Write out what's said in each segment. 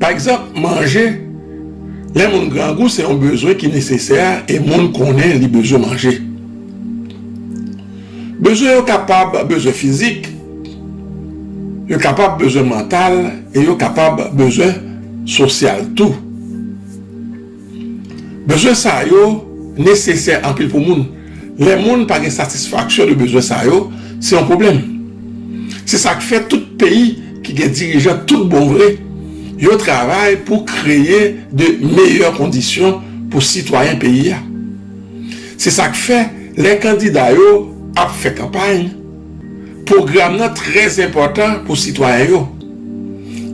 Pa egzanp, manje. Lè moun grangou se yon bezwen ki nesesè e moun konnen li bezwen manje. Bezwen yo kapab bezwen fizik, yo kapab bezwen mantal e yo kapab bezwen sosyal tou. Bezwen sa yo nesesè anpil pou moun. Lè moun pa gen satisfaksyon de bezwen sa yo, se yon pwoblèm. Se sa k fè tout peyi ki gen dirijan tout bon vre, yo travay pou kreye de meyè kondisyon pou sitwayen peyi a. Se sa k fè lè kandida yo ap fè kanpay, Pwogram nan trè enpòtan pou sitwayen yo.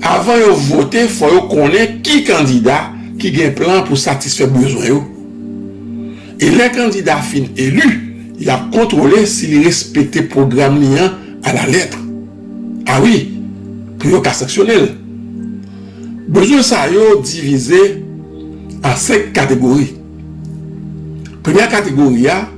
Avan yo vote fò yo konnen ki kandida ki gen plan pou satisfè bezwen yo. E lè kandida fin eli, y ap kontwole si li respekte pwogram li an alaletr. A wi, pou yo ka sanksyone l. Bezwen sa yo divize an senk kategori. Premyè kategori a.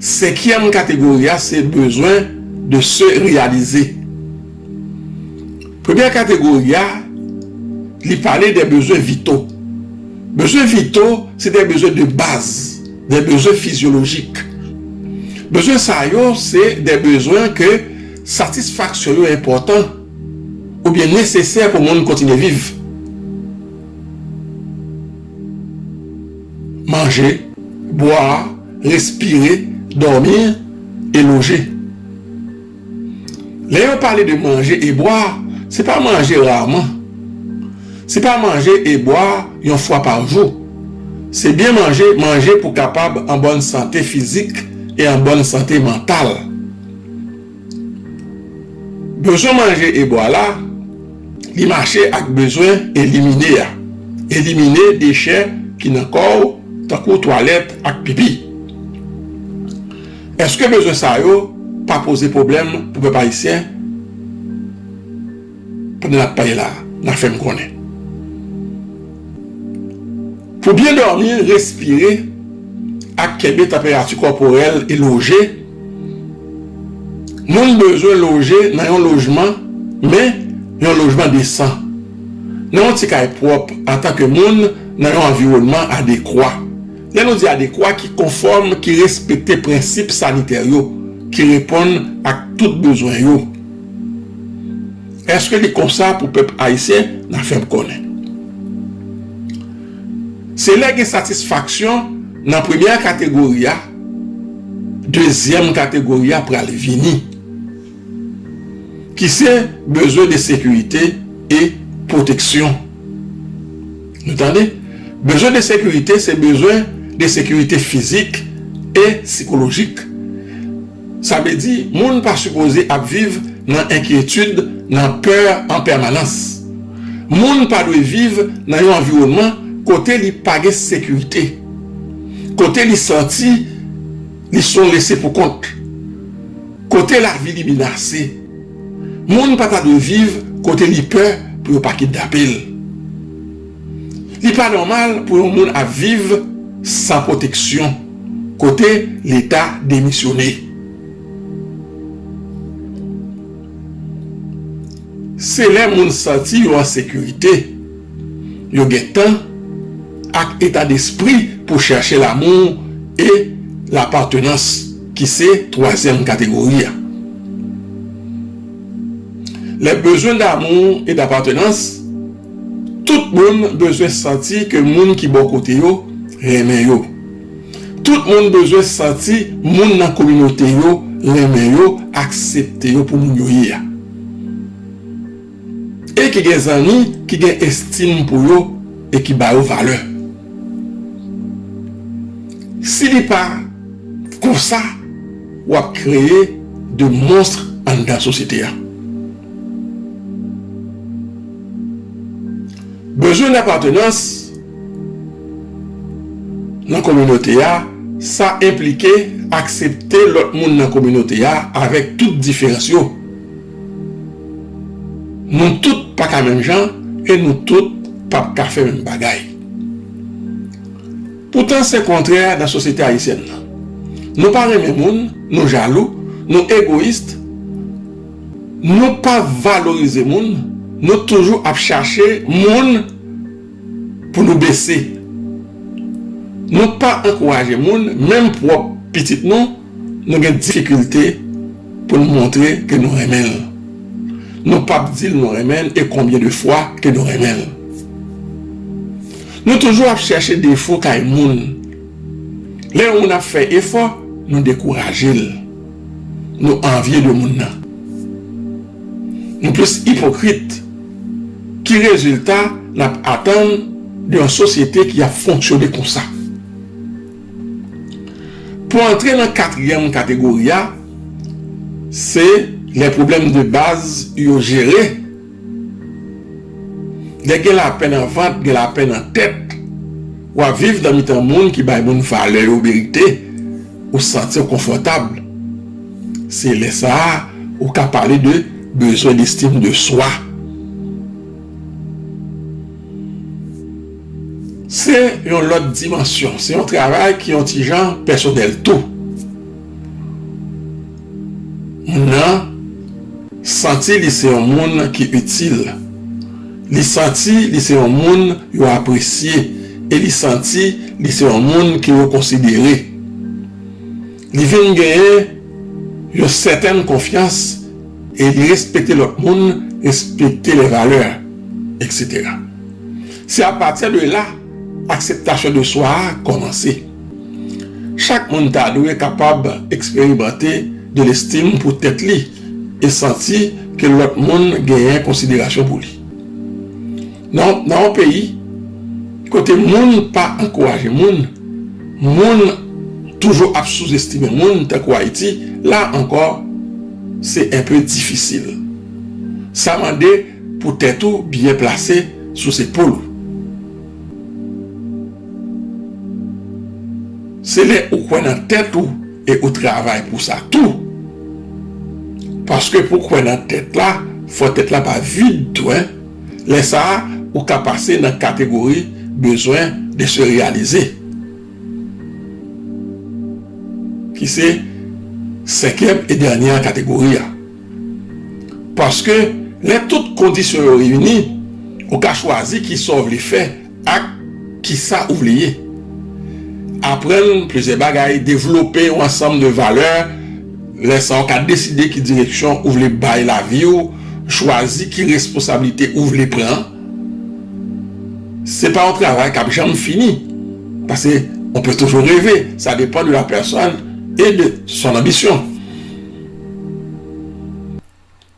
Senkyèm kategori a se bezwen de se reyalize. Premyè kategori a li pale de bezwen vito. Bezwen vito se de bezwen de baz, de bezwen fizyolojik. Bezwen sa yo se de bezwen ke satisfaksyon yo enpòtan oubyen nesesè pou moun kontinye viv. Manje, bwa. respire, dòmi e loje. Lè yo pale de manje e bwa, se pa manje raman, se pa manje e bwa yon fwa pa jou, se byen manje, manje pou kapab an bòn sante fizik e an bòn sante mantal. Bezwen manje e bwa la, li mache ak bezwen elimine a. Elimine dechè ki nan kò w tankou twalèt ak pipi. Eske bezwen sa yo pa poze pwoblèm pou pèp ayisyen? pandan nap pale la nan fèm konnen pou byen dòmi respire ak kenbe tanperati kòporèl e loje moun bezwen loje nan yon lojman men yon lojman desan nan yon ti kay pwòp antan ke moun nan yon anviwònman adekwa lè nou di adekwa ki konfòm ki respekte prensip sanitè yo ki reponn ak tout bezwen yo. Eske li konsa pou pèp ayisyen nan fèm konnen. Se lè gen satisfaksyon nan premyè kategori a dezyèm kategori a pral vini ki se bezwen de sekirite e pwoteksyon nou tande bezwen de sekirite se bezwen de sekirite fizik e sikolojik. Sa vle di moun pa sipoze ap viv nan enkyetid, nan pè an pèmanans. Moun pa dwe viv nan yon anviwònman kote li pa gen sekirite, kote li santi li s on lese pou kont, kote lavi li menase. Moun pa ta dwe viv kote li pè pou yo pa kidnape l. Li pa nòmal pou yon moun ap viv san pwoteksyon kote leta demisyone. Se lè moun santi yo an sekirite yo gen tan ak eta despri pou chèche lamou e lapatenans ki se twazyèm kategori a. Lè bezwen damou e dapatenans. Tout moun bezwen santi ke moun ki bò kote yo renmen yo. Tout moun bezwen santi moun nan kominote yo renmen yo, aksepte yo pou moun yo ye a. E ki gen zanmi ki gen estim pou yo e ki ba yo valè. Si li pa konsa, w ap kreye de monstre anndan sosyete a. Bezwen lapatenans nan kominote a, sa enplike aksepte lòt moun nan kominote a avèk tout diferans yo. Nou tout pa ka menm jan e nou tout p ap ka fè menm bagay. Poutan se kontrè nan sosyete ayisyèn nan. Nou pa renmen moun, nou jalou, nou egoyis. Nou pa valorize moun, nou toujou ap chache moun pou nou bese. Nou pa ankouraje moun, menm pwòp pitit nou, nou gen difikilte pou nou montre ke nou renmen l. Nou pa p di l nou renmen l e konbyen de fwa ke nou renmen l. Nou toujou ap chèche defo kay moun. Lè yon moun ap fè efò, nou dekouraje l. nou anvye de moun nan. Nou plis ipokrit. Ki rezilta n ap atann de yon sosyete ki ap fonksyone konsa? Pou antre nan katriyèm kategori a, se lè pwoblèm de baz yo jere. Lè gen lapè nan vant, gen lapè nan tèt. W ap viv nan mitan moun ki bay moun valè yo merite, ou santi w konfòtab. Se lè sa a ou ka pale de bezwen destim de swa. Se yon lòt dimansyon, se yon travay ki yon ti jan pèsonèl tou. moun nan santi li se yon moun ki itil, li santi li se yon moun yo apresye e li santi li se yon moun ke yo konsidere. Li vin genyen yon sètèn konfyans e li respekte lòt moun, respekte lè valè, eksetera. Se apati de la akseptasyon de swa a kòmanse. Chak moun ta dwe kapab eksperimante de lestim pou tèt li e santi ke lòt moun genyen konsiderasyon pou li. Nan yon peyi kote moun pa ankouraje moun, moun toujou ap souzestime moun tankou Ayiti, la ankò se enpe difisil. Sa mande pou tèt ou byen plase sou zepòl ou. Se lè ou kwè nan tèt ou e ou travay pou sa tou. Paske pou kwè nan tèt la, fò tèt la pa vid tou. Lè sa a, ou ka pase nan kategori bezwen de se reyalize. Ki se senkyèm e dènyè kategori a. Paske lè tout kondisyon yo reyini, ou ka chwazi ki sa ou vle fè. Ak kisa ou vle ye? Aprann plizyè bagay, devlope yon ansanm de valè, lè sa ou ka deside ki direksyon ou vle bay lavi ou, chwazi ki responsablite ou vle pran. Se pa yon travay kap janm fini, pase on pe toujou reve, sa depan de la pèsòn e de son anbisyon.